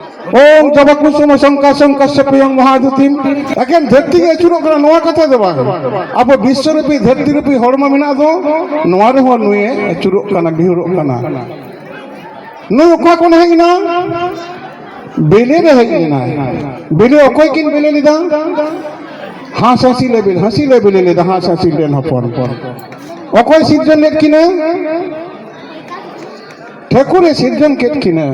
ᱳᱢ ᱡᱚᱵᱟᱠᱩ ᱥᱚᱢᱚ ᱥᱚᱝᱠᱟ ᱥᱚᱝᱠᱟ ᱥᱮᱯᱤᱭᱚᱝ ᱢᱚᱦᱟᱫᱩᱛᱤᱢ ᱮᱠᱮᱱ ᱫᱷᱟᱹᱨᱛᱤ ᱜᱮ ᱟᱹᱪᱩᱨᱚᱜ ᱠᱟᱱᱟ ᱱᱚᱣᱟ ᱠᱟᱛᱷᱟ ᱫᱚ ᱵᱟᱝ ᱟᱵᱚ ᱵᱤᱥᱥᱚ ᱨᱩᱯᱤ ᱫᱷᱟᱹᱨᱛᱤ ᱨᱩᱯᱤ ᱦᱚᱲᱢᱚ ᱢᱮᱱᱟᱜ ᱫᱚ ᱱᱚᱣᱟ ᱨᱮᱦᱚᱸ ᱱᱩᱭᱮ ᱟᱹᱪᱩᱨᱚᱜ ᱠᱟᱱᱟ ᱵᱤᱦᱩᱨᱚᱜ ᱠᱟᱱᱟ ᱱᱩᱭ ᱚᱠᱟ ᱠᱷᱚᱱ ᱦᱮᱡ ᱮᱱᱟ ᱵᱮᱞᱮ ᱨᱮ ᱦᱮᱡ ᱞᱮᱱᱟᱭ ᱵᱮᱞᱮ ᱚᱠᱚᱭ ᱠᱤᱱ ᱵᱮᱞᱮ ᱞᱮᱫᱟ ᱦᱟᱸᱥ ᱦᱟᱸᱥᱤ ᱞᱮ ᱵᱮᱞᱮ ᱦᱟᱸᱥᱤ ᱞᱮ ᱵᱮᱞᱮ ᱞᱮᱫᱟ ᱦᱟᱸᱥ ᱦᱟᱸᱥᱤ ᱨᱮᱱ ᱦᱚᱯᱚᱱ ᱚᱠᱚᱭ ᱥᱤᱨᱡᱚᱱ ᱞᱮᱫ ᱠᱤᱱᱟ ᱴᱷᱟᱹᱠᱩᱨᱮ ᱥᱤᱨᱡᱚᱱ ᱠᱮᱫ ᱠᱤᱱᱟᱹ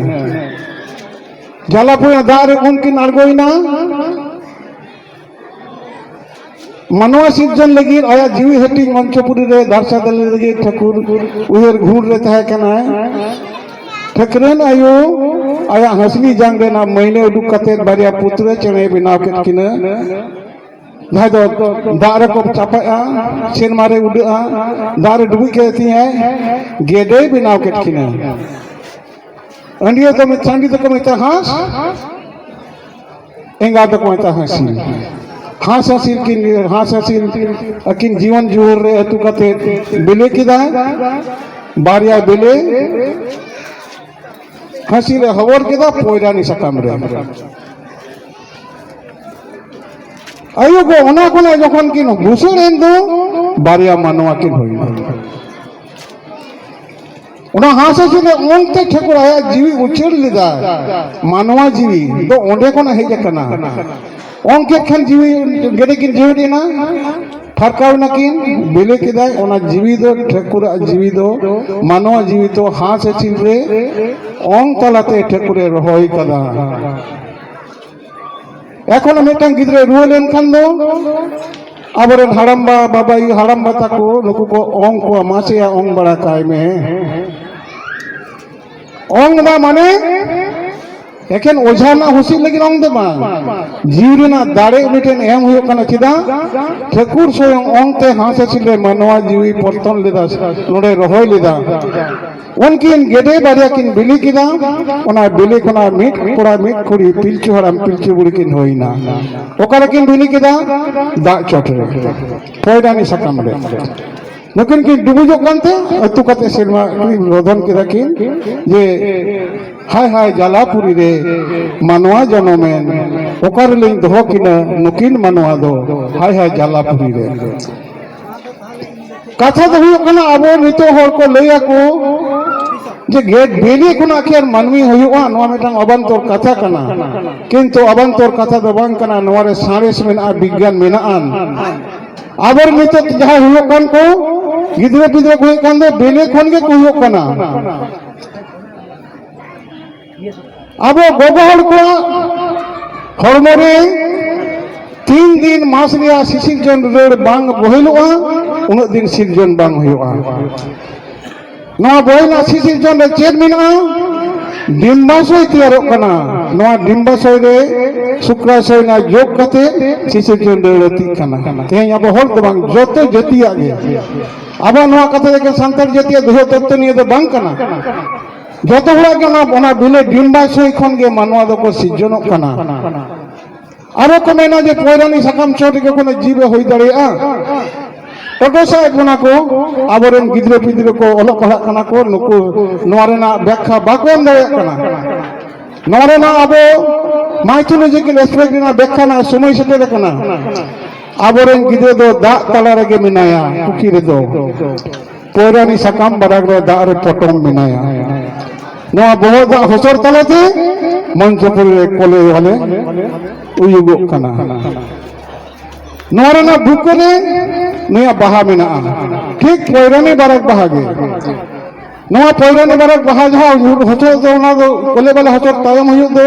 ᱡᱟᱞᱟᱯᱩᱭᱟ ᱫᱟᱜ ᱨᱮ ᱩᱱᱠᱤᱱ ᱟᱬᱜᱚᱭᱮᱱᱟ ᱢᱟᱱᱣᱟ ᱥᱤᱨᱡᱚᱱ ᱞᱟᱹᱜᱤᱫ ᱟᱭᱟᱜ ᱡᱤᱣᱤ ᱦᱟᱹᱴᱤᱧ ᱢᱚᱧᱪᱚᱯᱩᱨᱤ ᱨᱮ ᱫᱟᱨᱥᱟ ᱫᱟᱞᱮ ᱞᱟᱹᱜᱤᱫ ᱴᱷᱟᱹᱠᱩᱨ ᱩᱭᱦᱟᱹᱨ ᱜᱷᱩᱨ ᱨᱮ ᱛᱟᱦᱮᱸ ᱠᱟᱱᱟᱭ ᱴᱷᱟᱹᱠᱨᱮᱱ ᱟᱭᱳ ᱟᱭᱟᱜ ᱦᱟᱹᱥᱞᱤ ᱡᱟᱝ ᱨᱮᱱᱟᱜ ᱢᱟᱹᱭᱱᱟᱹ ᱩᱰᱩᱠ ᱠᱟᱛᱮ ᱵᱟᱨᱭᱟ ᱯᱩᱛᱨᱟᱹ ᱪᱮᱬᱮ ᱵᱮᱱᱟᱣ ᱠᱮᱫ ᱠᱤᱱᱟᱹ ᱡᱟᱦᱟᱸᱭ ᱫᱚ ᱫᱟᱜ ᱨᱮᱠᱚ ᱪᱟᱯᱟᱜᱼᱟ ᱥᱮᱨᱢᱟ ᱨᱮ ᱩᱰᱟᱹᱜᱼᱟ ᱫᱟᱜ ᱨᱮ ᱰᱩᱵᱩᱡ ᱠᱮᱫ ᱛᱤᱧᱟᱭ ᱜᱮᱰᱮᱭ ᱵᱮᱱᱟᱣ ᱠᱮᱫ ᱠᱤᱱᱟᱹ ᱟᱹᱰᱤᱭᱟᱹ ᱫᱚ ᱪᱟᱹᱰᱤ ᱫᱚᱠᱚ ᱢᱮᱛᱟᱜ ᱦᱟᱸᱥ ᱮᱸᱜᱟ ᱫᱚᱠᱚ ᱢᱮᱛᱟᱜ ᱦᱟᱸᱥᱤ ᱦᱟᱸᱥ ᱦᱟᱸᱥᱤᱞ ᱠᱤᱱ ᱦᱟᱸᱥ ᱦᱟᱸᱥᱤᱞ ᱟᱹᱠᱤᱱ ᱡᱤᱭᱚᱱ ᱡᱩᱣᱟᱹᱨ ᱨᱮ ᱟᱹᱛᱩ ᱠᱟᱛᱮ ᱵᱤᱞᱤ ᱠᱮᱫᱟᱭ ᱵᱟᱨᱭᱟ ᱵᱤᱞᱤ ᱦᱟᱸᱥᱤ ᱨᱮ ᱦᱚᱵᱚᱨ ᱠᱮᱫᱟ ᱯᱚᱭᱨᱟᱱᱤ ᱥᱟᱠᱟᱢ ᱨᱮ ᱟᱭᱳ ᱠᱚ ᱚᱱᱟ ᱠᱷᱚᱱᱟᱜ ᱡᱚᱠᱷᱚᱱ ᱠᱤᱱ ᱵᱷᱩᱥᱟᱹᱲ ᱮᱱ ᱫᱚ ᱵᱟᱨᱭᱟ ᱢᱟᱱᱣᱟ ᱠᱤᱱ ᱦᱩᱭᱱᱟ ᱚᱱᱟ ᱦᱟᱸᱥ ᱦᱟᱹᱥᱩᱞᱮ ᱚᱱᱛᱮ ᱴᱷᱟᱹᱠᱩᱨ ᱟᱭᱟᱜ ᱡᱤᱣᱤ ᱩᱪᱟᱹᱲ ᱞᱮᱫᱟ ᱢᱟᱱᱣᱟ ᱡᱤᱣᱤ ᱫᱚ ᱚᱸᱰᱮ ᱠᱷᱚᱱᱟᱜ ᱦᱮᱡ ᱟᱠᱟᱱᱟ ᱚᱱᱠᱮ ᱠᱷᱟᱱ ᱡᱤᱣᱤ ᱜᱮᱰᱮ ᱠᱤᱱ ᱡᱤᱣᱤᱫ ᱮᱱᱟ ᱯᱷᱟᱨᱠᱟᱣ ᱱᱟᱠᱤᱱ ᱵᱮᱞᱮ ᱠᱮᱫᱟᱭ ᱚᱱᱟ ᱡᱤᱣᱤ ᱫᱚ ᱴᱷᱟᱹᱠᱩᱨᱟᱜ ᱡᱤᱣᱤ ᱫᱚ ᱢᱟᱱᱣᱟ ᱡᱤᱣᱤ ᱫᱚ ᱦᱟᱸᱥ ᱦᱟᱹᱥᱤᱞ ᱨᱮ ᱚᱝ ᱛᱟᱞᱟᱛᱮ ᱴᱷᱟᱹᱠᱩᱨᱮ ᱨᱚᱦᱚᱭ ᱠᱟᱫᱟ ᱮᱠᱷᱚᱱ ᱢᱤᱫᱴᱟᱝ ᱜᱤᱫᱽᱨᱟᱹ ᱨᱩᱣᱟᱹ ᱞᱮᱱᱠᱷᱟᱱ ᱫᱚ ᱟᱵᱚᱨᱮᱱ ᱦᱟᱲᱟᱢᱵᱟ ᱵᱟᱵᱟ ᱟᱭᱳ ᱦᱟᱲᱟᱢᱵᱟ ᱛᱟᱠᱚ ᱱᱩᱠᱩ ᱠᱚ ᱚᱝ ᱠᱚᱣᱟ ᱢᱟᱥᱮᱭᱟ ᱚᱝ ᱵᱟᱲᱟ ᱠᱟᱭ ᱢᱮ ᱚᱝ ᱫᱟ ᱢᱟᱱᱮ ᱮᱠᱷᱮᱱ ᱚᱡᱷᱟ ᱨᱮᱱᱟᱜ ᱦᱩᱥᱤᱫ ᱞᱟᱹᱜᱤᱫ ᱚᱝ ᱫᱚ ᱵᱟᱝ ᱡᱤᱣᱤ ᱨᱮᱱᱟᱜ ᱫᱟᱲᱮ ᱩᱱᱤ ᱴᱷᱮᱱ ᱮᱢ ᱦᱩᱭᱩᱜ ᱠᱟᱱᱟ ᱪᱮᱫᱟᱜ ᱴᱷᱟᱹᱠᱩᱨ ᱥᱚᱭᱚᱝ ᱚᱝ ᱛᱮ ᱦᱟᱸᱥ ᱦᱟᱹᱥᱤᱞ ᱨᱮ ᱢᱟᱱᱣᱟ ᱡᱤᱣᱤ ᱯᱚᱨᱛᱚᱱ ᱞᱮᱫᱟ ᱱᱚᱰᱮ ᱨᱚᱦᱚᱭ ᱞᱮᱫᱟ ᱩᱱᱠᱤᱱ ᱜᱮᱰᱮ ᱵᱟᱨᱭᱟ ᱠᱤᱱ ᱵᱤᱞᱤ ᱠᱮᱫᱟ ᱚᱱᱟ ᱵᱤᱞᱤ ᱠᱷᱚᱱᱟᱜ ᱢᱤᱫ ᱠᱚᱲᱟ ᱢᱤᱫ ᱠᱩᱲᱤ ᱯᱤᱞᱪᱩ ᱦᱟᱲᱟᱢ ᱯᱤᱞᱪᱩ ᱵᱩᱲᱦᱤ ᱠᱤᱱ ᱦᱩᱭᱱᱟ ᱚᱠᱟᱨᱮ ᱠᱤᱱ ᱵᱤᱞᱤ ᱠᱮᱫᱟ ᱫᱟᱜ ᱪᱚᱴ ᱨᱮ ᱯᱚᱭᱰᱟᱱᱤ ᱥᱟᱠᱟᱢ ᱨᱮ ᱱᱩᱠᱤᱱ ᱠᱤᱱ ᱰᱩᱵᱩᱡᱚᱜ ᱠᱟᱱᱛᱮ ᱟᱹᱛᱩ ᱠᱟᱛᱮ ᱥᱮᱨᱢᱟ ᱨᱚᱫᱷᱚᱱ ᱠᱮᱫᱟ ᱠᱤᱱ ᱡᱮ ᱦᱟᱭ ᱦᱟᱭ ᱡᱟᱞᱟᱯᱩᱨᱤ ᱨᱮ ᱢᱟᱱᱣᱟ ᱡᱚᱱᱚᱢᱮᱱ ᱚᱠᱟᱨᱮᱞᱤᱧ ᱫᱚᱦᱚ ᱠᱤᱱᱟ ᱱᱩᱠᱤᱱ ᱢᱟᱱᱣᱟ ᱫᱚ ᱦᱟᱭ ᱦᱟᱭ ᱡᱟᱞᱟᱯᱩᱨᱤ ᱨᱮ ᱠᱟᱛᱷᱟ ᱫᱚ ᱦᱩᱭᱩᱜ ᱠᱟᱱᱟ ᱟᱵᱚ ᱱᱤᱛᱚᱜ ᱦᱚᱲ ᱠᱚ ᱞᱟᱹᱭ ᱟᱠᱚ ᱡᱮ ᱜᱮᱫ ᱵᱤᱞᱤ ᱠᱷᱚᱱᱟᱜ ᱠᱤ ᱟᱨ ᱢᱟᱹᱱᱢᱤ ᱦᱩᱭᱩᱜᱼᱟ ᱱᱚᱣᱟ ᱢᱤᱫᱴᱟᱝ ᱚᱵᱟᱱᱛᱚᱨ ᱠᱟᱛᱷᱟ ᱠᱟᱱᱟ ᱠᱤᱱᱛᱩ ᱚᱵᱟᱱᱛᱚᱨ ᱠᱟᱛᱷᱟ ᱫᱚ ᱵᱟᱝ ᱠᱟᱱᱟ ᱱᱚᱣᱟ ᱨᱮ ᱥᱟᱬᱮᱥ ᱢᱮᱱᱟᱜᱼᱟ ᱵᱤᱜᱽᱜᱟᱱ ᱢᱮᱱᱟᱜᱼᱟ ᱟᱵᱚᱨ ᱱᱤᱛᱚᱜ ᱡᱟᱦᱟᱸ ᱦᱩᱭᱩᱜ ᱠᱟᱱ ᱠᱚ ᱜᱤᱫᱽᱨᱟᱹ ᱯᱤᱫᱽᱨᱟᱹ ᱠᱚ ᱦᱩᱭᱩᱜ ᱠᱟᱱ ᱫᱚ ᱵᱤᱞᱤ ᱠᱷᱚᱱ ᱜᱮᱠᱚ ᱦᱩᱭᱩᱜ ᱠᱟᱱᱟ ᱟᱵᱚ ᱜᱚᱜᱚ ᱦᱚᱲ ᱠᱚᱣᱟᱜ ᱦᱚᱲᱢᱚ ᱨᱮ ᱛᱤᱱ ᱫᱤᱱ ᱢᱟᱥ ᱨᱮᱭᱟᱜ ᱥᱤᱥᱤᱨᱡᱚᱱ ᱨᱟᱹᱲ ᱵᱟᱝ ᱵᱚᱦᱮᱞᱚᱜᱼᱟ ᱩᱱᱟᱹᱜ ᱫᱤᱱ ᱥᱤᱨᱡᱚᱱ ᱵᱟᱝ ᱦᱩᱭᱩᱜᱼᱟ ᱱᱚᱣᱟ ᱵᱚᱦᱮᱞᱟᱜ ᱥᱤᱥᱤᱨᱡᱚᱱ ᱨᱮ ᱪᱮᱫ ᱢᱮᱱᱟᱜᱼᱟ ᱰᱤᱢᱵᱟᱥᱚᱭ ᱛᱮᱭᱟᱨᱚᱜ ᱠᱟᱱᱟ ᱱᱚᱣᱟ ᱰᱤᱢᱵᱟᱥᱚᱭ ᱨᱮ ᱥᱩᱠᱨᱟᱥᱚᱭ ᱨᱮᱱᱟᱜ ᱡᱳᱜᱽ ᱠᱟᱛᱮ ᱥᱤᱥᱤᱨᱡᱚᱱ ᱨᱟᱹᱲ ᱟᱹᱛᱤᱜ ᱠᱟᱱᱟ ᱛᱮᱦᱮᱧ ᱟᱵᱚ ᱦᱚᱲ ᱫᱚ ᱵᱟᱝ ᱡᱚᱛᱚ ᱡᱟᱹᱛᱤᱭᱟᱜ ᱜᱮ ᱟᱵᱚ ᱱᱚᱣᱟ ᱠᱟᱛᱷᱟ ᱮᱠᱮᱱ ᱥᱟᱱᱛᱟᱲ ᱡᱟᱹᱛᱤᱭᱟᱜ ᱫᱚᱦᱚ ᱛᱚᱛᱛᱚ ᱱᱤᱭᱟᱹ ᱫᱚ ᱵᱟᱝ ᱠᱟᱱᱟ ᱡᱚᱛᱚ ᱦᱚᱲᱟᱜ ᱜᱮ ᱚᱱᱟ ᱵᱤᱞᱮ ᱰᱤᱢ ᱵᱟᱭ ᱥᱚᱭ ᱠᱷᱚᱱ ᱜᱮ ᱢᱟᱱᱣᱟ ᱫᱚᱠᱚ ᱥᱤᱨᱡᱚᱱᱚᱜ ᱠᱟᱱᱟ ᱟᱨᱚ ᱠᱚ ᱢᱮᱱᱟ ᱡᱮ ᱯᱚᱭᱨᱟᱱᱤ ᱥᱟᱠᱟᱢ ᱪᱚᱴ ᱨᱮᱜᱮ ᱠᱳᱱᱳ ᱡᱤᱵᱮ ᱦᱩᱭ ᱫᱟᱲᱮᱭᱟᱜᱼᱟ ᱚᱰᱚᱥᱟᱭᱮᱫ ᱵᱚᱱᱟ ᱠᱚ ᱟᱵᱚᱨᱮᱱ ᱜᱤᱫᱽᱨᱟᱹ ᱯᱤᱫᱽᱨᱟᱹ ᱠᱚ ᱚᱞᱚᱜ ᱯᱟᱲᱦᱟᱜ ᱠᱟᱱᱟ ᱠᱚ ᱱᱩᱠᱩ ᱱᱚᱣᱟ ᱨᱮᱱᱟᱜ ᱵᱮᱠᱷᱟ ᱵᱟᱠᱚ ᱮᱢ ᱫᱟᱲᱮᱭᱟᱜ ᱠᱟᱱᱟ ᱱᱚᱣᱟ ᱨᱮᱱᱟᱜ ᱟᱵᱚ ᱢᱟᱭᱛᱷᱳᱞᱚᱡᱤᱠᱮᱞ ᱮᱥᱯᱮᱠᱴ ᱨᱮᱱᱟᱜ ᱵᱮᱠᱷᱟ ᱨᱮᱱᱟᱜ ᱥᱚᱢᱚᱭ ᱥᱮᱴᱮᱨ ᱟᱠᱟᱱᱟ ᱟᱵᱚᱨᱮᱱ ᱜᱤᱫᱽᱨᱟᱹ ᱫᱚ ᱫᱟᱜ ᱛᱟᱞᱟ ᱨᱮᱜᱮ ᱢᱮᱱᱟᱭᱟ ᱯᱩᱠᱷᱤ ᱨᱮᱫᱚ ᱯᱚᱭᱨᱟᱱᱤ ᱥᱟᱠᱟᱢ ᱵᱟᱨᱟᱜ ᱨᱮ ᱫᱟᱜ ᱨᱮ ᱯᱚᱴᱚᱢ ᱢᱮᱱᱟᱭᱟ ᱱᱚᱣᱟ ᱵᱚᱦᱚᱜ ᱫᱟᱜ ᱦᱚᱥᱚᱨ ᱛᱟᱞᱟᱛᱮ ᱢᱚᱧᱪᱚᱯᱩᱨᱤ ᱨᱮ ᱠᱚᱞᱮ ᱦᱟᱞᱮ ᱩᱭᱩᱜᱚᱜ ᱠᱟᱱᱟ ᱱᱚᱣᱟ ᱨᱮᱱᱟᱜ ᱵᱩᱠ ᱨᱮ ᱱᱩᱭᱟᱜ ᱵᱟᱦᱟ ᱢᱮᱱᱟᱜᱼᱟ ᱴᱷᱤᱠ ᱯᱚᱭᱨᱟᱱᱤ ᱵᱟᱨᱟᱜ ᱵᱟᱦᱟ ᱜᱮ ᱱᱚᱣᱟ ᱯᱚᱭᱨᱟᱱᱤ ᱵᱟᱨᱟᱜ ᱵᱟᱦᱟ ᱡᱟᱦᱟᱸ ᱦᱚᱪᱚ ᱫᱚ ᱚᱱᱟ ᱫᱚ ᱠᱚᱞᱮ ᱵᱟᱞᱟ ᱦᱚᱪᱚ ᱛᱟᱭᱚᱢ ᱦᱩᱭᱩᱜ ᱫᱚ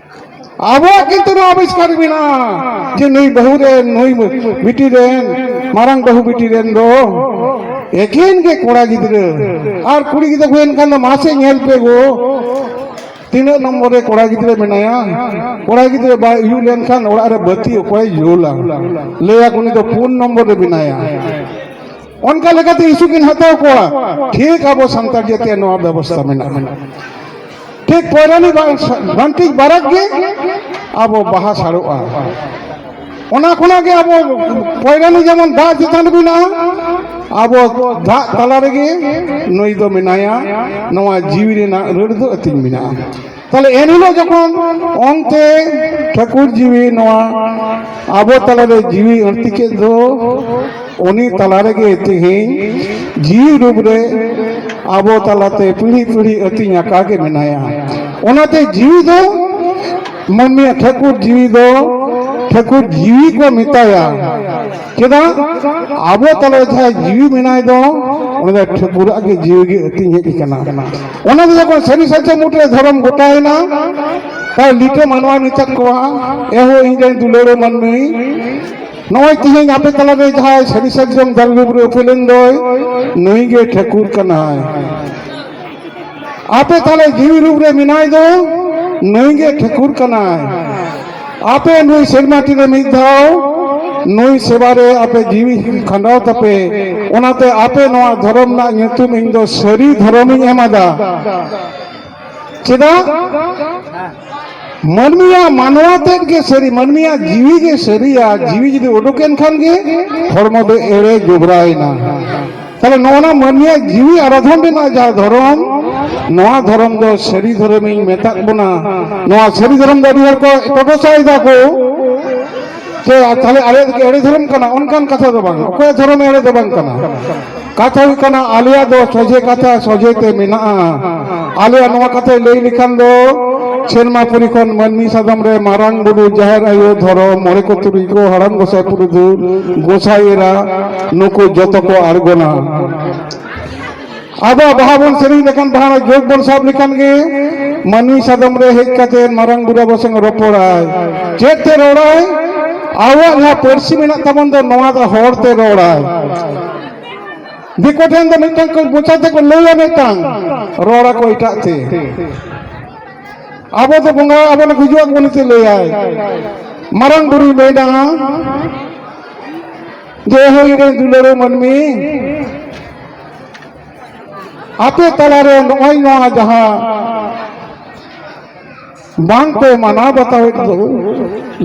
ᱟᱵᱚᱣᱟᱜ ᱠᱤᱱᱛᱩ ᱱᱚᱣᱟ ᱟᱵᱤᱥᱠᱟᱨ ᱢᱮᱱᱟᱜᱼᱟ ᱡᱮ ᱱᱩᱭ ᱵᱟᱹᱦᱩ ᱨᱮᱱ ᱱᱩᱭ ᱵᱤᱴᱤ ᱨᱮᱱ ᱢᱟᱨᱟᱝ ᱵᱟᱹᱦᱩ ᱵᱤᱴᱤ ᱨᱮᱱ ᱫᱚ ᱮᱠᱮᱱ ᱜᱮ ᱠᱚᱲᱟ ᱜᱤᱫᱽᱨᱟᱹ ᱟᱨ ᱠᱩᱲᱤ ᱜᱤᱫᱽᱨᱟᱹ ᱠᱚ ᱮᱱᱠᱷᱟᱱ ᱫᱚ ᱢᱟᱥᱮ ᱧᱮᱞ ᱯᱮ ᱜᱚ ᱛᱤᱱᱟᱹᱜ ᱱᱚᱢᱵᱚᱨ ᱨᱮ ᱠᱚᱲᱟ ᱜᱤᱫᱽᱨᱟᱹ ᱢᱮᱱᱟᱭᱟ ᱠᱚᱲᱟ ᱜᱤᱫᱽᱨᱟᱹ ᱵᱟᱭ ᱩᱭᱩᱜ ᱞᱮᱱᱠᱷᱟᱱ ᱚᱲᱟᱜ ᱨᱮ ᱵᱟᱹᱛᱤ ᱚᱠᱚᱭ ᱡᱩᱞᱟ ᱞᱟᱹᱭᱟ ᱩᱱᱤ ᱫᱚ ᱯᱩᱱ ᱱᱚᱢᱵᱚᱨ ᱨᱮ ᱢᱮᱱᱟᱭᱟ ᱚᱱᱠᱟ ᱞᱮᱠᱟᱛᱮ ᱤᱥᱩ ᱠᱤᱱ ᱦᱟᱛᱟᱣ ᱠᱚᱣᱟ ᱴᱷᱤᱠ ᱟᱵᱚ ᱥᱟᱱᱛᱟᱲ ᱡᱟᱹᱛᱤᱭᱟᱜ ᱱᱚᱣᱟ ᱵᱮᱵᱚᱥᱛᱷᱟ ᱢᱮᱱᱟᱜᱼᱟ ᱴᱷᱤᱠ ᱯᱚᱭᱨᱟᱱᱤ ᱵᱟᱱᱴᱤᱡ ᱵᱟᱨᱟᱠ ᱜᱮ ᱟᱵᱚ ᱵᱟᱦᱟ ᱥᱟᱲᱚᱜᱼᱟ ᱚᱱᱟ ᱠᱷᱚᱱᱟᱜ ᱜᱮ ᱟᱵᱚ ᱯᱚᱭᱨᱟᱱᱤ ᱡᱮᱢᱚᱱ ᱫᱟᱜ ᱪᱮᱛᱟᱱ ᱨᱮ ᱢᱮᱱᱟᱜᱼᱟ ᱟᱵᱚ ᱫᱟᱜ ᱛᱟᱞᱟ ᱨᱮᱜᱮ ᱱᱩᱭ ᱫᱚ ᱢᱮᱱᱟᱭᱟ ᱱᱚᱣᱟ ᱡᱤᱣᱤ ᱨᱮᱱᱟᱜ ᱨᱟᱹᱲ ᱫᱚ ᱟᱹᱛᱤᱧ ᱢᱮᱱᱟᱜᱼᱟ ᱛᱟᱦᱚᱞᱮ ᱮᱱᱦᱤᱞᱳᱜ ᱡᱚᱠᱷᱚᱱ ᱚᱱᱛᱮ ᱴᱷᱟᱹᱠᱩᱨ ᱡᱤᱣᱤ ᱱᱚᱣᱟ ᱟᱵᱚ ᱛᱟᱞᱟᱨᱮ ᱡᱤᱣᱤ ᱟᱹᱲᱛᱤ ᱠᱮᱫ ᱫᱚ ᱩᱱᱤ ᱛᱟᱞᱟ ᱨᱮᱜᱮ ᱛᱮᱦᱮᱧ ᱡᱤᱣᱤ ᱨᱩᱯ ᱨᱮ ᱟᱵᱚ ᱛᱟᱞᱟᱛᱮ ᱯᱤᱲᱦᱤ ᱯᱤᱲᱦᱤ ᱟᱹᱛᱤᱧ ᱟᱠᱟ ᱜᱮ ᱢᱮᱱᱟᱭᱟ ᱚᱱᱟᱛᱮ ᱡᱤᱣᱤ ᱫᱚ ᱢᱟᱹᱱᱢᱤᱭᱟᱜ ᱴᱷᱟᱹᱠᱩᱨ ᱡᱤᱣᱤ ᱫᱚ ᱴᱷᱟᱹᱠᱩᱨ ᱡᱤᱣᱤ ᱠᱚ ᱢᱮᱛᱟᱭᱟ ᱪᱮᱫᱟᱜ ᱟᱵᱚ ᱛᱟᱞᱟ ᱡᱟᱦᱟᱸᱭ ᱡᱤᱣᱤ ᱢᱮᱱᱟᱭ ᱫᱚ ᱚᱱᱟ ᱫᱚ ᱴᱷᱟᱹᱠᱩᱨᱟᱜ ᱜᱮ ᱡᱤᱣᱤ ᱜᱮ ᱟᱹᱛᱤᱧ ᱦᱮᱡ ᱠᱟᱱᱟ ᱚᱱᱟ ᱫᱚ ᱡᱚᱠᱷᱚᱱ ᱥᱟᱹᱨᱤ ᱥᱟᱪᱟ ᱢᱩᱴᱨᱮ ᱫᱷᱚᱨᱚᱢ ᱜᱚᱴᱟᱭᱮᱱᱟ ᱛᱟᱦᱚᱞᱮ ᱞᱤᱴᱟᱹ ᱢᱟᱱᱣᱟ ᱢᱮᱛᱟᱫ ᱠᱚᱣᱟ ᱮᱦᱚ ᱤᱧ ᱨᱮᱱ ᱫᱩᱞᱟᱹᱲ ᱢᱟᱹᱱᱢᱤ ᱱᱚᱜᱼᱚᱭ ᱛᱮᱦᱮᱧ ᱟᱯᱮ ᱛᱟᱞᱟᱨᱮ ᱡᱟᱦᱟᱸᱭ ᱥᱟᱹᱨᱤ ᱥᱟᱨᱡᱚᱢ ᱫᱟᱨᱮ ᱰᱩᱵᱩᱨ ᱩᱯᱮᱞᱮᱱ ᱫᱚᱭ ᱱᱩᱭ ᱜᱮ ᱴᱷᱟᱹᱠᱩᱨ ᱠᱟᱱᱟᱭ ᱟᱯᱮ ᱛᱟᱞᱮ ᱡᱤᱣᱤ ᱨᱩᱯ ᱨᱮ ᱢᱮᱱᱟᱭ ᱫᱚ ᱱᱩᱭ ᱜᱮ ᱴᱷᱟᱹᱠᱩᱨ ᱠᱟᱱᱟᱭ ᱟᱯᱮ ᱱᱩᱭ ᱥᱮᱨᱢᱟ ᱴᱤ ᱨᱮ ᱢᱤᱫ ᱫᱷᱟᱣ ᱱᱩᱭ ᱥᱮᱵᱟ ᱨᱮ ᱟᱯᱮ ᱡᱤᱣᱤ ᱠᱷᱟᱸᱰᱟᱣ ᱛᱟᱯᱮ ᱚᱱᱟᱛᱮ ᱟᱯᱮ ᱱᱚᱣᱟ ᱫᱷᱚᱨᱚᱢ ᱨᱮᱱᱟᱜ ᱧᱩᱛᱩᱢ ᱤᱧ ᱫᱚ ᱥᱟᱹᱨᱤ ᱫᱷᱚᱨᱚᱢᱤᱧ ᱮᱢᱟᱫᱟ ᱪᱮᱫᱟᱜ ᱢᱟᱹᱱᱢᱤᱭᱟᱜ ᱢᱟᱱᱣᱟ ᱛᱮᱫ ᱜᱮ ᱥᱟᱹᱨᱤ ᱢᱟᱹᱱᱢᱤᱭᱟᱜ ᱡᱤᱣᱤ ᱜᱮ ᱥᱟᱹᱨᱤᱭᱟ ᱡᱤᱣᱤ ᱡᱩᱫᱤ ᱩᱰᱩᱠᱮᱱ ᱠᱷᱟᱱ ᱜᱮ ᱦᱚᱲᱢᱚ ᱫᱚ ᱮᱲᱮ ᱡᱚᱵᱽᱨᱟᱭᱮᱱᱟ ᱛᱟᱦᱞᱮ ᱱᱚᱜᱼᱚ ᱱᱟ ᱢᱟᱹᱱᱢᱤᱭᱟᱜ ᱡᱤᱣᱤ ᱟᱨ ᱟᱫᱷᱚᱢ ᱨᱮᱱᱟᱜ ᱡᱟᱦᱟᱸ ᱫᱷᱚᱨᱚᱢ ᱱᱚᱣᱟ ᱫᱷᱚᱨᱚᱢ ᱫᱚ ᱥᱟᱹᱨᱤ ᱫᱷᱚᱨᱚᱢᱤᱧ ᱢᱮᱛᱟᱜ ᱵᱚᱱᱟ ᱱᱚᱣᱟ ᱥᱟᱹᱨᱤ ᱫᱷᱚᱨᱚᱢ ᱫᱚ ᱟᱹᱰᱤ ᱦᱚᱲ ᱠᱚ ᱴᱚᱴᱚᱥᱟᱭ ᱫᱟᱠᱚ ᱡᱮ ᱛᱟᱦᱞᱮ ᱟᱞᱮ ᱫᱚ ᱮᱲᱮ ᱫᱷᱚᱨᱚᱢ ᱠᱟᱱᱟ ᱚᱱᱠᱟᱱ ᱠᱟᱛᱷᱟ ᱫᱚ ᱵᱟᱝ ᱚᱠᱚᱭ ᱫᱷᱚᱨᱚᱢ ᱮᱲᱮ ᱫᱚ ᱵᱟᱝ ᱠᱟᱱᱟ ᱠᱟᱛᱷᱟ ᱦᱩᱭᱩᱜ ᱠᱟᱱᱟ ᱟᱞᱮᱭᱟᱜ ᱫᱚ ᱥᱚᱡᱷᱮ ᱠᱟᱛᱷᱟ ᱥᱚᱡᱷᱮ ᱛᱮ ᱢᱮᱱᱟᱜᱼᱟ ᱟᱞᱮᱭᱟᱜ ᱱᱚᱣᱟ ᱠᱟᱛᱷᱟ ᱞᱟᱹᱭ ᱞᱮᱠᱷᱟᱱ ᱫᱚ ᱥᱮᱨᱢᱟ ᱯᱩᱨᱤ ᱠᱷᱚᱱ ᱢᱟᱹᱱᱢᱤ ᱥᱟᱫᱚᱢ ᱨᱮ ᱢᱟᱨᱟᱝ ᱵᱩᱨᱩ ᱡᱟᱦᱮᱨ ᱟᱭᱳ ᱫᱷᱚᱨᱚᱢ ᱢᱚᱬᱮ ᱠᱚ ᱛᱩᱨᱩᱭ ᱠᱚ ᱦᱟᱲᱟᱢ ᱜᱚᱸᱥᱟᱭ ᱯᱩᱨᱩᱫᱩ ᱜᱚᱸᱥᱟᱭ ᱮᱨᱟ ᱱᱩᱠᱩ ᱡᱚᱛᱚ ᱠᱚ ᱟᱬᱜᱚᱱᱟ ᱟᱵᱚ ᱵᱟᱦᱟ ᱵᱚᱱ ᱥᱮᱨᱮᱧ ᱞᱮᱠᱷᱟᱱ ᱵᱟᱦᱟ ᱨᱮᱱᱟᱜ ᱡᱳᱜᱽ ᱵᱚᱱ ᱥᱟᱵ ᱞᱮᱠᱷᱟᱱ ᱜᱮ ᱢᱟᱹᱱᱢᱤ ᱥᱟᱫᱚᱢ ᱨᱮ ᱦᱮᱡ ᱠᱟᱛᱮ ᱢᱟᱨᱟᱝ ᱵᱩᱨᱩ ᱟᱵᱚ ᱥᱚᱸᱜᱮ ᱨᱚᱯᱚᱲᱟᱭ ᱪᱮᱫ ᱛᱮ ᱨᱚᱲᱟᱭ ᱟᱵᱚᱣᱟᱜ ᱡᱟᱦᱟᱸ ᱯᱟᱹᱨᱥᱤ ᱢᱮᱱᱟᱜ ᱛᱟᱵᱚᱱ ᱫᱚ ᱱᱚᱣᱟ ᱫᱚ ᱦᱚᱲ ᱛᱮ ᱨᱚᱲᱟᱭ ᱫᱤᱠᱩ ᱴᱷᱮᱱ ᱫᱚ ᱢᱤᱫᱴᱟᱝ ᱠᱚ ᱢᱚᱪᱟ ᱛᱮᱠᱚ ᱞᱟᱹᱭᱟ ᱢᱤᱫᱴᱟᱝ ᱨᱚᱲᱟᱠᱚ ᱮᱴᱟᱜ ᱛᱮ ᱟᱵᱚ ᱫᱚ ᱵᱚᱸᱜᱟ ᱟᱵᱚ ᱫᱚ ᱜᱩᱡᱩᱜ ᱟᱵᱚ ᱱᱤᱛᱮ ᱞᱟᱹᱭᱟᱭ ᱢᱟᱨᱟᱝ ᱵᱩᱨᱩᱭ ᱢᱮᱱᱟ ᱡᱮ ᱦᱳᱭ ᱨᱮ ᱫᱩᱞᱟᱹᱲ ᱢᱟᱹᱱᱢᱤ ᱟᱯᱮ ᱛᱟᱞᱟᱨᱮ ᱱᱚᱜᱼᱚᱭ ᱱᱚᱣᱟ ᱡᱟᱦᱟᱸ ᱵᱟᱝ ᱯᱮ ᱢᱟᱱᱟᱣ ᱵᱟᱛᱟᱣᱮᱫ ᱫᱚ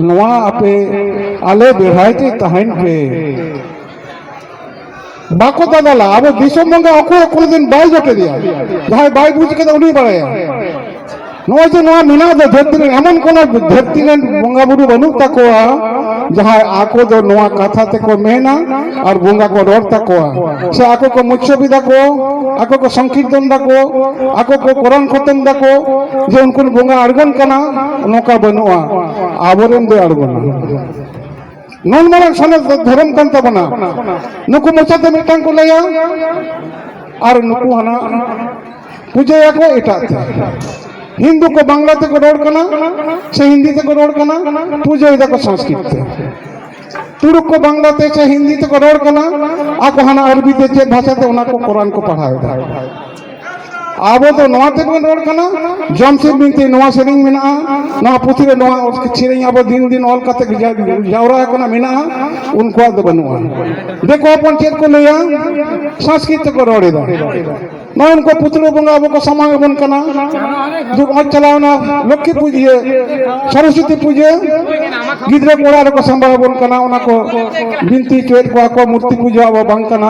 ᱱᱚᱣᱟ ᱟᱯᱮ ᱟᱞᱮ ᱵᱮᱲᱦᱟᱭ ᱛᱮ ᱛᱟᱦᱮᱱ ᱯᱮ ᱵᱟᱠᱚ ᱫᱟᱫᱟᱞᱟ ᱟᱵᱚ ᱫᱤᱥᱚᱢ ᱵᱚᱸᱜᱟ ᱚᱠᱚᱭ ᱠᱳᱱᱳ ᱫᱤᱱ ᱵᱟᱭ ᱡᱚᱴᱮᱫᱮᱭᱟ ᱡᱟᱦᱟᱸᱭ ᱵᱟᱭ ᱵᱩᱡᱽ ᱠᱟᱫᱟ ᱩᱱᱤ ᱵᱟᱲᱟᱭᱟ ᱱᱚᱜᱼᱚᱭ ᱡᱮ ᱱᱚᱣᱟ ᱢᱮᱱᱟᱜ ᱫᱚ ᱫᱷᱟᱹᱨᱛᱤ ᱨᱮ ᱮᱢᱚᱱ ᱠᱳᱱᱳ ᱫᱷᱟᱹᱨᱛᱤ ᱨᱮᱱ ᱵᱚᱸᱜᱟ ᱵᱩᱨᱩ ᱵᱟᱹᱱᱩᱜ ᱛᱟᱠᱚᱣᱟ ᱡᱟᱦᱟᱸᱭ ᱟᱠᱚ ᱫᱚ ᱱᱚᱣᱟ ᱠᱟᱛᱷᱟ ᱛᱮᱠᱚ ᱢᱮᱱᱟ ᱟᱨ ᱵᱚᱸᱜᱟ ᱠᱚ ᱨᱚᱲ ᱛᱟᱠᱚᱣᱟ ᱥᱮ ᱟᱠᱚ ᱠᱚ ᱢᱩᱪᱷᱚᱵᱤ ᱫᱟᱠᱚ ᱟᱠᱚ ᱠᱚ ᱥᱚᱝᱠᱤᱨᱛᱚᱱ ᱫᱟᱠᱚ ᱟᱠᱚ ᱠᱚ ᱠᱚᱨᱚᱱ ᱠᱷᱚᱛᱚᱢ ᱫᱟᱠᱚ ᱡᱮ ᱩᱱᱠᱩ ᱵᱚᱸᱜᱟ ᱟᱬᱜᱚᱱ ᱠᱟᱱᱟ ᱱᱚᱝᱠᱟ ᱵᱟᱹᱱᱩᱜᱼᱟ ᱟᱵᱚᱨᱮᱱ ᱫᱚ ᱟᱬᱜᱚᱱᱟ ᱱᱩᱱ ᱢᱟᱨᱟᱝ ᱥᱟᱱᱟᱢ ᱫᱷᱚᱨᱚᱢ ᱠᱟᱱ ᱛᱟᱵᱚᱱᱟ ᱱᱩᱠᱩ ᱢᱚᱪᱟᱛᱮ ᱢᱤᱫᱴᱟᱝ ᱠᱚ ᱞᱟᱹᱭᱟ ᱟᱨ ᱱᱩᱠᱩ ᱦᱟᱱᱟ ᱯᱩᱡᱟᱹᱭᱟᱠᱚ ᱮᱴᱟᱜ ᱛᱮ ᱦᱤᱱᱫᱩ ᱠᱚ ᱵᱟᱝᱞᱟ ᱛᱮᱠᱚ ᱨᱚᱲ ᱠᱟᱱᱟ ᱥᱮ ᱦᱤᱱᱫᱤ ᱛᱮᱠᱚ ᱨᱚᱲ ᱠᱟᱱᱟ ᱯᱩᱡᱟᱹᱭ ᱫᱟᱠᱚ ᱥᱚᱝᱥᱠᱨᱤᱛ ᱛᱮ ᱛᱩᱲᱩᱠ ᱠᱚ ᱵᱟᱝᱞᱟ ᱛᱮ ᱥᱮ ᱦᱤᱱᱫᱤ ᱛᱮᱠᱚ ᱨᱚᱲ ᱠᱟᱱᱟ ᱟᱠᱚ ᱦᱟᱱᱟ ᱟᱨᱵᱤ ᱛᱮ ᱪᱮᱫ ᱵᱷᱟᱥᱟ ᱛᱮ ᱚᱱᱟ ᱠᱚ ᱠᱚᱨᱟᱱ ᱠᱚ ᱯᱟᱲᱦᱟᱣ ᱮᱫᱟ ᱟᱵᱚ ᱫᱚ ᱱᱚᱣᱟ ᱛᱮᱵᱚᱱ ᱨᱚᱲ ᱠᱟᱱᱟ ᱡᱚᱢᱥᱤᱫ ᱵᱤᱱᱛᱤ ᱱᱚᱣᱟ ᱥᱮᱨᱮᱧ ᱢᱮᱱᱟᱜᱼᱟ ᱱᱚᱣᱟ ᱯᱩᱛᱷᱤ ᱨᱮ ᱱᱚᱣᱟ ᱥᱮᱨᱮᱧ ᱟᱵᱚ ᱫᱤᱱ ᱫᱤᱱ ᱚᱞ ᱠᱟᱛᱮ ᱡᱟᱣᱨᱟ ᱟᱠᱟᱱᱟ ᱢᱮᱱᱟᱜᱼᱟ ᱩᱱᱠᱩᱣᱟᱜ ᱫᱚ ᱵᱟᱹᱱᱩᱜᱼᱟ ᱫᱤᱠᱩ ᱦᱚᱯᱚᱱ ᱪᱮᱫ ᱠᱚ ᱞᱟᱹᱭᱟ ᱥᱚᱝᱥᱠᱨᱤᱛ ᱛᱮᱠᱚ ᱨᱚᱲ ᱮᱫᱟ ᱱᱚᱜᱼᱚᱭ ᱩᱱᱠᱩ ᱯᱩᱛᱲᱟᱹ ᱵᱚᱸᱜᱟ ᱟᱵᱚ ᱠᱚ ᱥᱟᱢᱟᱝ ᱟᱵᱚᱱ ᱠᱟᱱᱟ ᱱᱚᱜᱼᱚᱭ ᱪᱟᱞᱟᱣᱱᱟ ᱞᱚᱠᱠᱷᱤ ᱯᱩᱡᱟᱹ ᱥᱚᱨᱚᱥᱚᱛᱤ ᱯᱩᱡᱟᱹ ᱜᱤᱫᱽᱨᱟᱹ ᱠᱚ ᱚᱲᱟᱜ ᱨᱮᱠᱚ ᱥᱟᱢᱵᱟᱣ ᱟᱵᱚᱱ ᱠᱟᱱᱟ ᱚᱱᱟ ᱠᱚ ᱵᱤᱱᱛᱤ ᱦᱚᱪᱚᱭᱮᱫ ᱠᱚᱣᱟ ᱠᱚ ᱢᱩᱨᱛᱤ ᱯᱩᱡᱟᱹ ᱟᱵᱚ ᱵᱟᱝ ᱠᱟᱱᱟ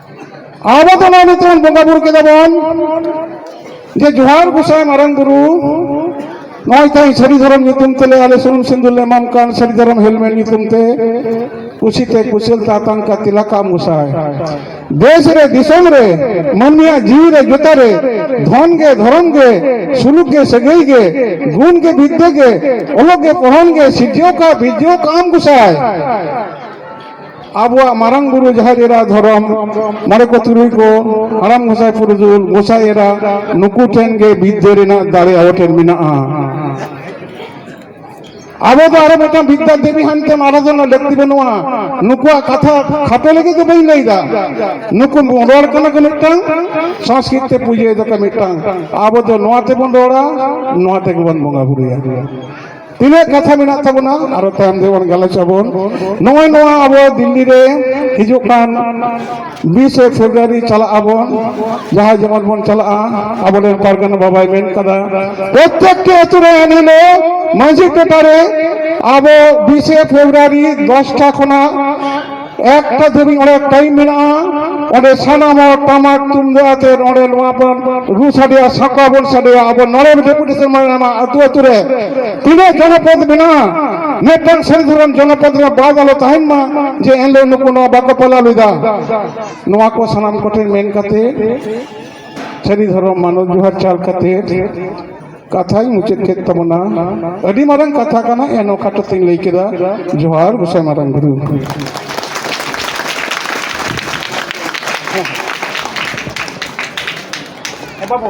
ᱟᱵᱚ ᱫᱚ ᱱᱚᱣᱟ ᱱᱤᱛᱚᱜ ᱵᱚᱸᱜᱟ ᱵᱩᱨᱩ ᱠᱮᱫᱟ ᱵᱚᱱ ᱡᱮ ᱡᱚᱦᱟᱨ ᱜᱚᱥᱟᱭ ᱢᱟᱨᱟᱝ ᱵᱩᱨᱩ ᱱᱚᱜᱼᱚᱭ ᱛᱮᱦᱮᱧ ᱥᱟᱹᱨᱤ ᱫᱷᱚᱨᱚᱢ ᱧᱩᱛᱩᱢ ᱛᱮᱞᱮ ᱟᱞᱮ ᱥᱩᱱᱩᱢ ᱥᱤᱸᱫᱩᱨ ᱞᱮ ᱮᱢᱟᱢ ᱠᱟᱱ ᱥᱟᱹᱨᱤ ᱫᱷᱚᱨᱚᱢ ᱦᱮᱞᱢᱮᱞ ᱧᱩᱛᱩᱢ ᱛᱮ ᱠᱩᱥᱤᱛᱮ ᱠᱩᱥᱤᱞ ᱛᱟᱛᱟᱱ ᱠᱟ ᱛᱤᱞᱟ ᱠᱟᱢ ᱜᱚᱥᱟᱭ ᱫᱮᱥ ᱨᱮ ᱫᱤᱥᱚᱢ ᱨᱮ ᱢᱟᱹᱱᱢᱤᱭᱟᱜ ᱡᱤᱣᱤ ᱨᱮ ᱡᱚᱛᱟ ᱨᱮ ᱫᱷᱚᱱ ᱜᱮ ᱫᱷᱚᱨᱚᱢ ᱜᱮ ᱥᱩᱞᱩᱠ ᱜᱮ ᱥᱟᱹᱜᱟᱹᱭ ᱜᱮ ᱜᱩᱱ ᱜᱮ ᱵᱤᱫᱽᱫᱟᱹ ᱜᱮ ᱚᱞᱚᱜ ᱜᱮ ᱯᱚᱲᱦᱚᱱ ᱜᱮ ᱥᱤᱨᱡᱟᱹᱣ ᱠᱟ ᱵᱤᱨᱡᱟᱹᱣ ᱠᱟᱢ ᱜᱚᱥᱟᱭ ᱟᱵᱚᱣᱟᱜ ᱢᱟᱨᱟᱝ ᱵᱩᱨᱩ ᱡᱟᱦᱮᱨ ᱮᱨᱟ ᱫᱷᱚᱨᱚᱢ ᱢᱚᱬᱮ ᱠᱚ ᱛᱩᱨᱩᱭ ᱠᱚ ᱦᱟᱲᱟᱢ ᱜᱚᱸᱥᱟᱭ ᱯᱩᱨᱩᱫᱩᱞ ᱜᱚᱸᱥᱟᱭ ᱮᱨᱟ ᱱᱩᱠᱩ ᱴᱷᱮᱱ ᱜᱮ ᱵᱤᱫᱽᱫᱟᱹ ᱨᱮᱱᱟᱜ ᱫᱟᱲᱮ ᱟᱵᱚ ᱴᱷᱮᱱ ᱢᱮᱱᱟᱜᱼᱟ ᱟᱵᱚ ᱫᱚ ᱟᱨᱚ ᱢᱤᱫᱴᱟᱝ ᱵᱤᱫᱽᱫᱟ ᱫᱮᱵᱤ ᱦᱟᱱᱛᱮᱢ ᱟᱨᱟᱫᱷᱚᱱᱟ ᱞᱟᱹᱠᱛᱤ ᱵᱟᱹᱱᱩᱜᱼᱟ ᱱᱩᱠᱩᱣᱟᱜ ᱠᱟᱛᱷᱟ ᱠᱷᱟᱴᱚ ᱞᱟᱹᱜᱤᱫ ᱫᱚ ᱵᱟᱹᱧ ᱞᱟᱹᱭᱫᱟ ᱱᱩᱠᱩ ᱨᱚᱲ ᱠᱟᱱᱟ ᱠᱚ ᱢᱤᱫᱴᱟᱝ ᱥᱚᱝᱥᱠᱨᱤᱛ ᱛᱮ ᱯᱩᱡᱟᱹᱭ ᱫᱟᱠᱚ ᱢᱤᱫᱴᱟᱝ ᱟᱵᱚ ᱫᱚ ᱱᱚᱣᱟ ᱛᱮᱵᱚᱱ ᱨᱚᱲᱟ ᱱᱚᱣᱟ ᱛᱮᱜᱮ ᱵᱚᱱ ᱵᱚᱸᱜᱟ ᱵᱩᱨᱩᱭᱟ ᱛᱤᱱᱟᱹᱜ ᱠᱟᱛᱷᱟ ᱢᱮᱱᱟᱜ ᱛᱟᱵᱚᱱᱟ ᱟᱨᱚ ᱛᱟᱭᱚᱢ ᱛᱮᱵᱚᱱ ᱜᱟᱞᱚᱪ ᱟᱵᱚᱱ ᱱᱚᱜᱼᱚᱭ ᱱᱚᱣᱟ ᱟᱵᱚ ᱫᱤᱞᱞᱤ ᱨᱮ ᱦᱤᱡᱩᱜ ᱠᱟᱱ ᱵᱤᱥᱮ ᱯᱷᱮᱵᱨᱩᱣᱟᱨᱤ ᱪᱟᱞᱟᱜ ᱟᱵᱚᱱ ᱡᱟᱦᱟᱸ ᱡᱮᱢᱚᱱ ᱵᱚᱱ ᱪᱟᱞᱟᱜᱼᱟ ᱟᱵᱚᱨᱮᱱ ᱯᱟᱨᱜᱟᱱᱟ ᱵᱟᱵᱟᱭ ᱢᱮᱱ ᱠᱟᱫᱟ ᱯᱨᱚᱛᱮᱠᱴᱤ ᱟᱹᱛᱩ ᱨᱮ ᱮᱱᱦᱤᱞᱳᱜ ᱢᱟᱹᱡᱷᱤ ᱴᱚᱴᱷᱟᱨᱮ ᱟᱵᱚ ᱵᱤᱥᱮ ᱯᱷᱮᱵᱨᱩᱣᱟᱨᱤ ᱫᱚᱥᱴᱟ ᱠᱷᱚᱱᱟᱜ ᱮᱠᱴᱟ ᱫᱷᱟᱹᱵᱤᱡ ᱚᱸᱰᱮ ᱴᱟᱭᱤᱢ ᱢᱮᱱᱟᱜᱼᱟ ᱚᱸᱰᱮ ᱥᱟᱱᱟᱢ ᱦᱚᱲ ᱴᱟᱢᱟᱠ ᱛᱩᱢᱫᱟᱜ ᱟᱛᱮ ᱱᱚᱸᱰᱮ ᱱᱚᱣᱟ ᱵᱚᱱ ᱨᱩ ᱥᱟᱰᱮᱭᱟ ᱥᱟᱠᱣᱟ ᱵᱚᱱ ᱥᱟᱰᱮᱭᱟ ᱟᱵᱚ ᱱᱚᱸᱰᱮ ᱰᱮᱯᱩᱴᱮᱥᱚᱱ ᱢᱮᱱᱟᱜᱼᱟ ᱟᱹᱛᱩ ᱟᱹᱛᱩ ᱨᱮ ᱛᱤᱱᱟᱹᱜ ᱡᱚᱱᱚᱯᱚᱫ ᱢᱮᱱᱟᱜᱼᱟ ᱢᱤᱫᱴᱟᱝ ᱥᱮᱱ ᱫᱷᱚᱨᱚᱢ ᱡᱚᱱᱚᱯᱚᱫ ᱨᱮ ᱵᱟᱫ ᱟᱞᱚ ᱛᱟᱦᱮᱱ ᱢᱟ ᱡᱮ ᱮᱱᱦᱤᱞᱳᱜ ᱱᱩᱠᱩ ᱱᱚᱣᱟ ᱵᱟᱠᱚ ᱯᱟᱞᱟᱣ ᱞᱮᱫᱟ ᱱᱚᱣᱟ ᱠᱚ ᱥᱟᱱᱟᱢ ᱠᱚᱴᱷᱮᱱ ᱢᱮᱱ ᱠᱟᱛᱮ ᱥᱟᱹᱨᱤ ᱫᱷᱚᱨᱚᱢ ᱢᱟᱱᱚᱛ ᱡᱚᱦᱟᱨ ᱪᱟᱞ ᱠᱟᱛᱮ ᱠᱟᱛᱷᱟᱧ ᱢᱩᱪᱟᱹᱫ ᱠᱮᱫ ᱛᱟᱵᱚᱱᱟ ᱟᱹᱰᱤ ᱢᱟᱨᱟᱝ ᱠᱟᱛᱷᱟ ᱠᱟᱱᱟ ᱮᱱ ᱚᱠᱟᱴᱚ ᱛᱤᱧ ᱞᱟᱹᱭ ᱠᱮᱫᱟ ᱡᱚᱦᱟᱨ ᱜᱚᱥᱟᱭ ᱢᱟᱨᱟᱝ ᱜᱩᱨᱩ ᱵᱟᱵᱩ